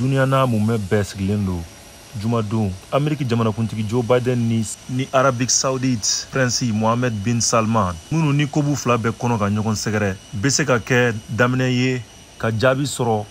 duniya n'a mumɛ bɛɛ sigilen don jumadon ameriki jamanakuntigi joe biden ni arabi saudite prinsi mohamed bin salman minnu ni ko b'u fila bɛɛ kɔnɔ ka ɲɔgɔn sɛgɛrɛ bɛ se ka kɛ daminɛ ye ka jaabi sɔrɔ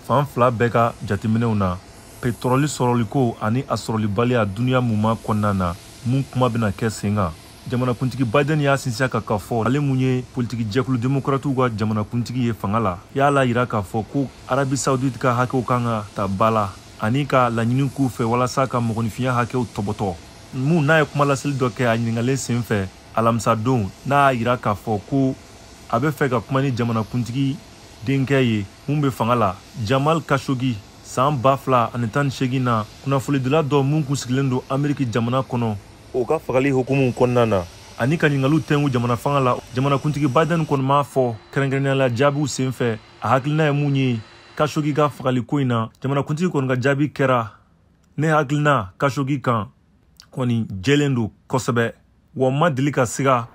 fan fila bɛɛ ka jateminɛw na petrɔli sɔrɔliko ani a sɔrɔlibaliya duniya mumɛ kɔnɔna na mun kuma bɛna kɛ sen kan jamanakuntigi biden y'a sinsin a kan k'a fɔ ale mun ye politiki jɛkulu demokratiw ka jamanakuntigi ye fanga la y'a la yira k'a fɔ ko arabi saudite ka hakɛw kan ka ta ba la ani k'a laɲini k'u fɛ walasa ka mɔgɔninfinya hakɛw tɔbɔtɔ mun n'a ye kuma laseli dɔ kɛ a ɲiningalen sen fɛ alamisadon n'a y'a yira k'a fɔ ko a bɛ fɛ ka kuma ni jamanakuntigi denkɛ ye mun bɛ fanga la jamal khashoggi san ba fila ani tan ni seegin na kunnafolidila dɔ mun kun sigilen don ameriki jamana kɔnɔ o ka fagali hukumu kɔnɔna na ani ka ɲingaliw tɛngu jamana fanga la jamanakuntigi biden kɔni m'a fɔ kɛrɛnkɛrɛnnenya la jaabiw sen fɛ a hakilina ye mun ye khashoggi ka fagali ko in na jamanakuntigi kɔni ka jaabi kɛra ne hakilina khashoggi kan kɔni jɛlen don kosɛbɛ wa n ma deli ka siga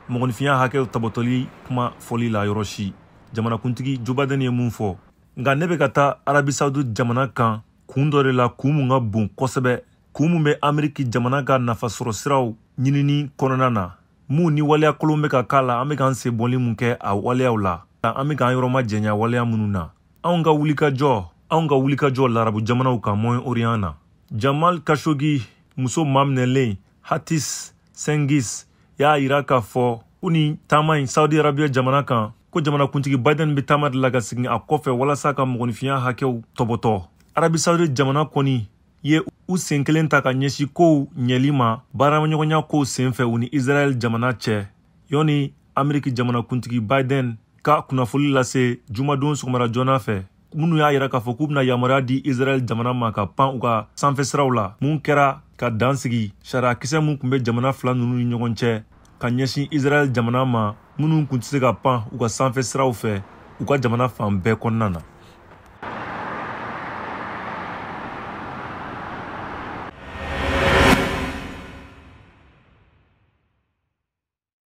mɔgɔninfinya hakɛw tɔbɔtɔli kuma fɔli la yɔrɔ si jamanakuntigi joe biden ye mun fɔ nka ne bɛ ka taa arabi saudi jamana kan kun dɔ de la kun mun ka bon kosɛbɛ kun min bɛ ameriki jamana ka nafasɔrɔsiraw ɲinini kɔnɔna na min ni waleya kolon bɛ ka k'a la an bɛ k'an sen bɔli min kɛ a waleyaw la an bɛ k'an yɔrɔ majanya waleya minnu na anw ka wulikajɔ anw ka wulikajɔ larabu jamanaw kan moyen orient na jamal khashoggi muso maminɛlen hatice cengiz y'a yira k'a fɔ ko nin taama in saudi arabiya jamana kan ko jamanakuntigi biden bɛ taama de la ka segin a kɔfɛ walasa ka mɔgɔninfinya hakɛw tɔbɔtɔ arabi saudi jamana kɔni ye u sen kelen ta ka ɲɛsin kow ɲɛli ma baaraɲɔgɔnya kow sen fɛ u ni israɛl jamana cɛ yanni ameriki jamanakuntigi biden ka kunnafoli lase jumadon sɔgɔmada joona fɛ minnu y'a yira k'a fɔ k'u bɛna yamaruya di israɛl jamana ma ka pan u ka sanfɛsiraw la mun kɛra ka dan sigi sariyakisɛ min tun bɛ jamana fila ninnu ni ɲɔgɔn cɛ ka ɲɛsin israɛl jamana ma minnu kun tɛ se ka pan u ka sanfɛ siraw fɛ u ka jamana fan bɛɛ kɔnɔna na